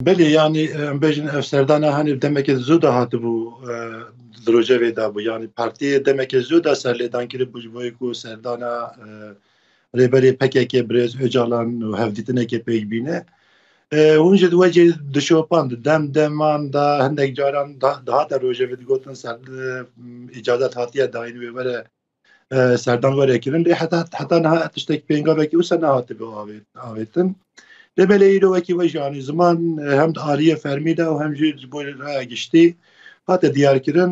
Belê yanî em bêjin ev serdana hanê demekê zû de hatibû di rojevê de bû yanî partiyê demekê zû de serlêdan kiribû ji bo ku serdana rêberê PKK birêz Ocalan û hevdîtinekê pêk bîne. Hûn ji di wecê dişopan di dem deman de hindek caran dihate rojevê digotin ser îcazet hatiye dayîn wê were Serdan were kirin lê heta heta niha tiştek pêngavekî wisa nehatibe avêtin. Lê belê îro wekî we jî anî ziman hem di aliyê fermî de û hem jî ji bo raya giştî hate diyarkirin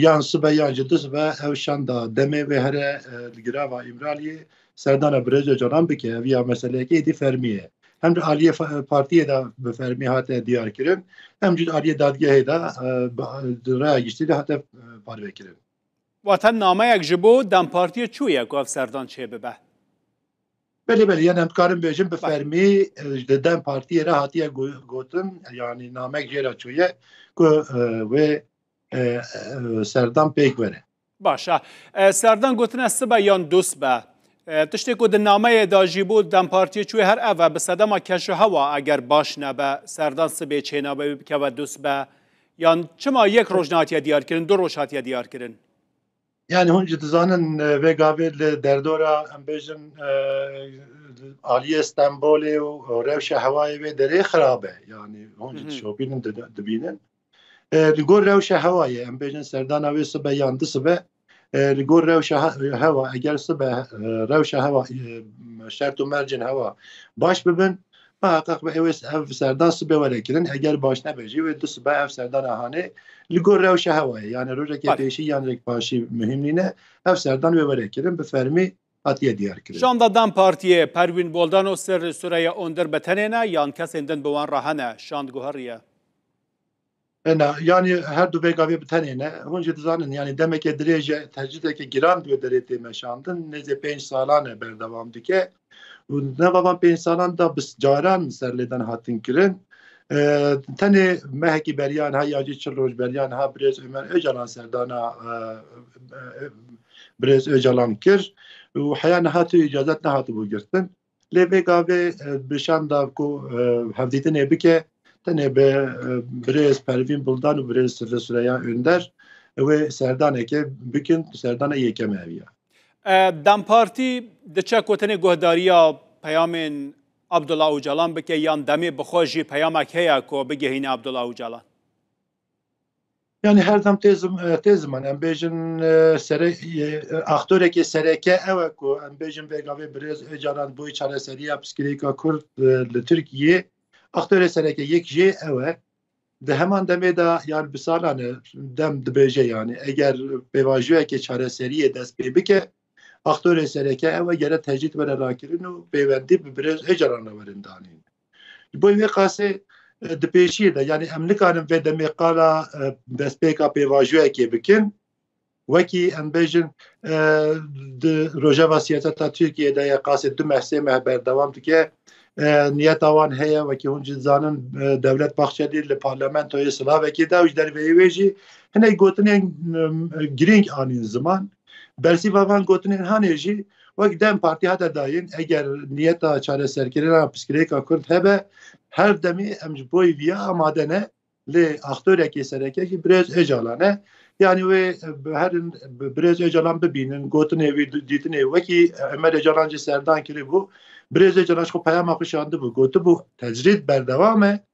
yan sibe yan ji du sibe ew şanda demê wê here li girava Îmraliyê serdana birêz Ocalan bike ev ya meseleyekê êdî fermî ye. Hem di aliyê partiyê de bi fermî hate diyarkirin hem jî di aliyê dadgehê de di raya giştî de hate parvekirin. Wate nameyek ji bo dempartiyê çû ye ku ev serdan çê bibe? Belê belê yan em dikarin bêjin bi fermî di dem partiyê re hatiye gotin yanî namek jê re çûye ku wê serdan pêk bere. Baş e. Serdan gotine sibe yan dusbe. Tiştê ku di nameyê de jî bû dem partiyê çûyê her ev e bi sedema keşuhewa eger baş nebe serdan sibê çênabe wî bikeve dusbe Yan çima yek roj nehatiye diyarkirin, du roj hatiye diyarkirin? Yani hûn jî dizanin vê gavê li derdora em bêjin aliyê Stenbolê û rewşa hewayê vê derê xirab e. Yani hûn jî dişopînin dibînin. Li gor rewşa hewayê em bêjin serdana wê sibe yan di sibe Li gor rewşa hewa eger sibe rewşa hewa şert û mercên hewa baş bibin heqeq be ewê ev serdan sibe were kirin eger baş nebe jî wê du sibe ev serdana hanê li gor rewşa hewayê yanê rojekê pêşî yan rek paşî muhîm nîne ev serdan wê were kirin bi fermî hatiye diyar kirin. Şanda dem partiyê Perwîn Boldano ser li Sureye Onder bi tenê ne yan kesên din bi wan re hene? Şand guheriye. Na, yanî her du vê gavê bi tenê ne. Hûn jî dizanin yanî demeke dirêj e, tecrîdeke giran di wê derê tê meşandin, nêzê pênc salan e berdewam dike û di nava van pênc salan de bi caran serlêdan hatin kirin. Tenê mehekî beriya niha ya jî çil roj beriya niha birêz Omer Ocalan serdana birêz Ocalan kir û heya niha tu îcazet nehatibû girtin. Lê vê gavê bi şan da ku hevdîtinê bike tenê bi birêz Pervîn Buldan û birêz Sifê Sureya Önder wê serdanekê bikin serdana yekem ev ya. Dem Partî diçe ku tenê guhdariya peyamên Abdullah Ocalan bike yan demê bi xwe jî peyamek heye ku bigihîne Abdullah Ocalan? Yani her dem tê tê ziman em bêjin sere aktorekê sereke ew e ku em bêjin vê gavê birêz Êcaran boy çareseriya piskirêka Kurd li Tirkiyê aktorê sereke yek jê ew e di heman demê de yan bi salan e dem dibêje yani eger pêvajoyekê çareseriyê dest pê bike aktorê sereke ew e gere tecrîd were rakirin û pêwendî bi birêz Êcaran re werin danîn. Li gorî vê qasê di pêşiyê de yanî em nikarin vê demê qala destpêka pêvajoyekê bikin. Wekî em bêjin di rojeva siyaseta Tirkiyeyê de ye qasê du meh sê meh berdewam dike. Niyeta wan heye wekî hûn jî dizanin Dewlet Bahçelî li parlamentoyê silavekê da û ji derveyî wê jî hinek gotinên girîng anîn ziman. Bersiva van gotinên Hanê jî wek dem partî hate dayîn eger niyeta çareserkirina piskirêka Kurd hebe her demê em ji bo viya amade ne lê aktorekê sereke jî Birêz Ocalan e. Yanî wê herin Birêz Ocalan bibînin gotinê wî dîtinê wekî Omer Ocalan jî serdan kiribû. Birêz Ocalan ji xwe peyama xwe şandibû gotibû tecrîd berdewam e.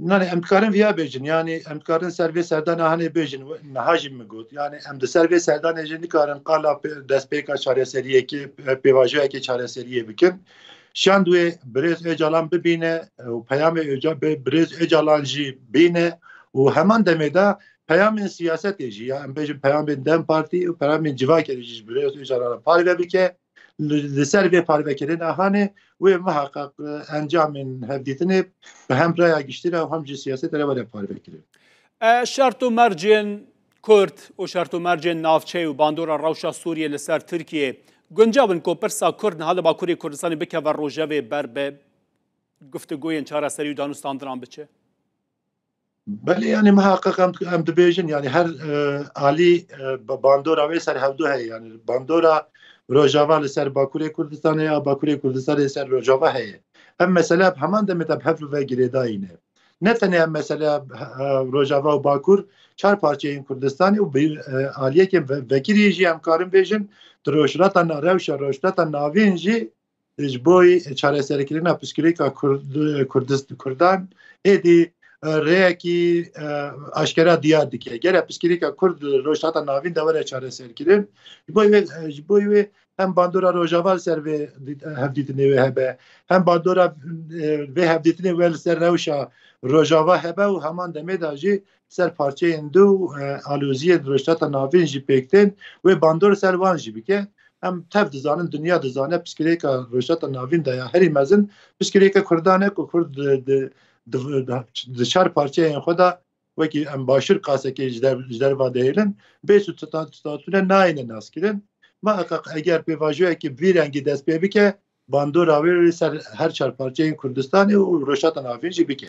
Nanê em dikarin viya bêjin yanî em dikarin ser vê serdana hanê bêjin niha jî min got yanî em di ser vê serdanê jî nikarin qala destpêka çareseriyekê pêvajoyekê çareseriyê bikin. Şand wê birêz Ocalan bibîne û peyamê birêz Ocalan jî bîne û heman demê de peyamên siyasetê jî ya em bêjin peyamên dem partî û peyamên civakê jî ji birêz Ocalan re parve bike. Li ser vê parvekirina hanê wê muheqeq encamên hevdîtinê bi hem raya giştî re û hem jî siyasetê re were parvekirin. Şert û mercên Kurd û şert û mercên navçeyê û bandora rewşa Sûriyê li ser Tirkiyeyê guncav in ku pirsa Kurd niha li Bakurê Kurdistanê bikeve rojevê ber bi guftugoyên çareserî û danûstandinan biçe? Belê yanî miheqeq em dibêjin yanî her alî bandora wê ser hevdu heye yanî bandora Rojava li ser Bakurê Kurdistanê ya Bakurê Kurdistanê li ser Rojava heye. Em mesele bi heman demê de bi hev ve girêdayî ne. Ne tenê em meseleya Rojava û Bakur çar parçeyên Kurdistanê û bi aliyekên vekirî jî em karin bêjin di rojhilata rewşa rojhilata navîn jî Ji bo çareserkirina pirsgirêka Kurdan êdî rêyekî aşkera diyar dike. Gere pirsgirêka Kurd li Rojhilata Navîn de were çareserkirin. Ji bo wê ji bo wê hem bandora Rojava li ser vê hevdîtinê wê hebe. Hem bandora vê hevdîtinê wê li ser rewşa Rojava hebe û heman demê de jî ser parçeyên dû aloziyên Rojhilata Navîn jî pêk tên wê bandor ser wan jî bike. Em tev dizanin dinya dizane piskirêka Rojhilata Navîn de ya herî mezin piskirêka Kurdan e ku Kurd di çar parçeyên xwe de wekî em başûr qasekê ji derva dihêlin bê statûne nayêne naskirin. Ma eger pêvajoyekê bi vî rengî dest pê bike bandora wê ser her çar parçeyên Kurdistanê û Rojhilata Navîn jî bike.